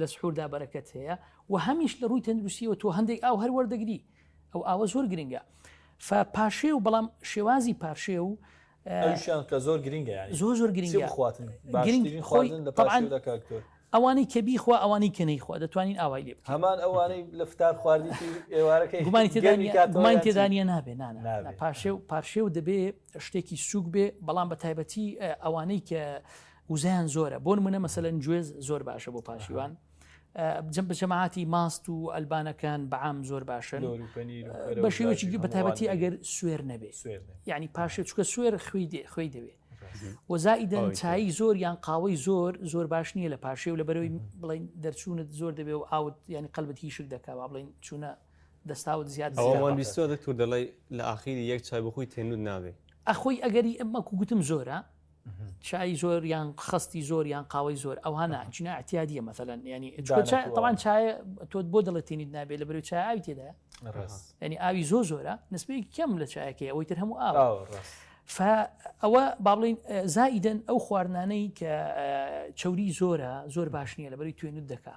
لە سحوردا بەرەکەت هەیە و هەمیش لە ڕووی تەندروستیەوە تۆ هەندێک ئاو هەر وەردەگری ئەو ئاوە زۆر گرنگە پاشێ و بەڵام شێوازی پاشێ و شان کە زۆر گرنگە زۆر زۆر گرنگی بخواتن ئەوانەی کە بیخوا ئەوانەی کە نەیخوا دەتوانین ئاوای لێ هەمان ئەوانەی لە فتار خواردی ئێوارەکەی گومانی تێدانە نابێ پاشێ و پاشێ و دەبێ شتێکی سوک بێ بەڵام بە تایبەتی ئەوانەی کە وزەیان زۆرە بۆنمونە مەسەلەن گوێز زۆر باشە بۆ پاشیوان جم بە جەماعاتی ماست و ئەلبانەکان بەعام زۆر باشن بە شێوەی بەتابەتی ئەگەر سوێر نەبێت ینی پاشێ چکە سوێر خوێ دێ خوێ دەوێت وەزائیدەن چایی زۆر یان قاوەی زۆر زۆر باش نییە لە پاشێ و لە بەرەوەی بڵین دەرچوونت زۆر دەبێ و ئاوت ینی قەلبت هیشک دەکەوا بڵین چوونە دەستاوت زیاد دەکتور دەڵی لە ئاخیری یەک چای بخۆی تێنود نابێ ئەخۆی ئەگەری ئەمە گوتم زۆرە چای زۆر یان خەستی زۆر یان قاوەی زۆر ئەوها نا چونە اعتیادیە مەسەلەن یانی تەوان چای تۆ بۆ دڵێتینیت نابێت لە بەرەو چای ئاوی تێدا ینی ئاوی زۆ زۆرە نسبەی کەم لە چایەکەی ئەوەی تر هەموو ئاوە ئەوە با بڵین زائیدن ئەو خواردنانەی کە چوری زۆرە زۆر باش نییە لە بەری توێنت دەکا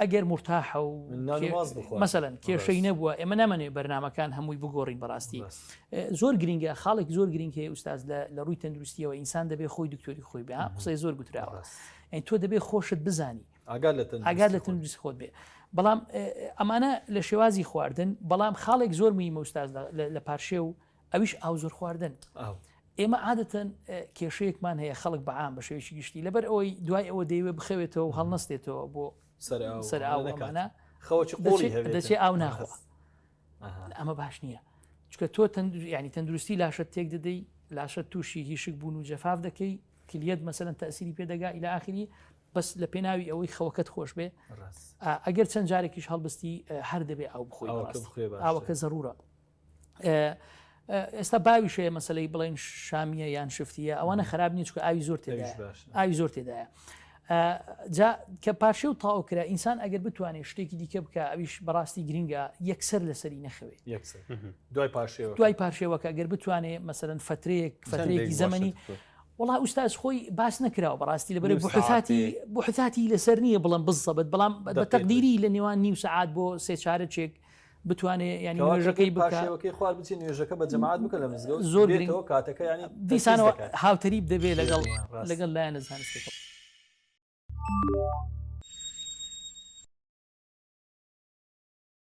ئەگەر مورتاحە و مەسەلەن کێشەی نەبووە ئێمە نامەێ بەرنمەکان هەمووی بگۆڕین بەڕاستی زۆر گرنگە خاڵێک زۆر گرنگ هەیە ئوستاز لە ڕووی تەندروستیەوە ئینسان دەبێ خۆی دکتۆری خۆی بێ قسەی زۆر گوتراوە ئەین تۆ دەبێ خۆشت بزانی ئاگار لە تەندروست خۆت بێ بەڵام ئەمانە لە شێوازی خواردن بەڵام خاڵێک زۆر موی مەستاز لە پارشێ و ئەویش ئاو زۆر خواردن ئێمە عادەتەن کێشەیەکمان هەیە خەڵک بەعام بە شێوەیەکی گشتی لەبەر ئەوەی دوای ئەوە دەیوێ بخەوێتەوە و هەڵنەستێتەوە بۆ سەرکانە دەچێ ئاو ناخوا ئەمە باش نییە چکە تۆ ینی تەندروستی لاشە تێک دەدەی لاشە تووشی هیشک بوون و جەفاف دەکەی کلیت مەسەن تەسیری پێدەگا ئیلا ئاخری بەس لە پێناوی ئەوەی خەوەکەت خۆش بێ ئەگەر چەند جارێکیش هەڵبستی هەر دەبێ ئەو بخۆی ئاوەکە زەرورە ئێستا باوی شەیە مەسلەی بڵین شامیە یان شفتیە ئەوانە خراپ نیچ کە ئاوی زۆر تێدا ئاوی زۆر تێدایە جا کە پارشێ و تاو کرا ئینسان ئەگەر بتوانێت شتێکی دیکە بکە ئەویش بەڕاستی گرنگە یەکسەر لەسەری نەخەوێت دوای پارشێوە دوای پارشێوەکە گەر بتوانێت مەسەرەن فترەیەک فترەیەکی زەمەنی وڵا ئوستاز خۆی باس نکراوە بەڕاستی لە بەرە بحثاتی بحثاتی لەسەر نییە بڵم بزەبت بەڵام بە تەقدیری لە نێوان نیو سعات بۆ سێ چارەچێک بتوانێ ینی نوێژەکەی باشەکەی خوار بچی نوێژەکە بە جەماعات بکە لە مزگە زۆر گرنگەوە کاتەکە ینی دیسانەوە هاوتەریب دەبێت لەگەڵ لەگەڵ لایەن لە زانستەکە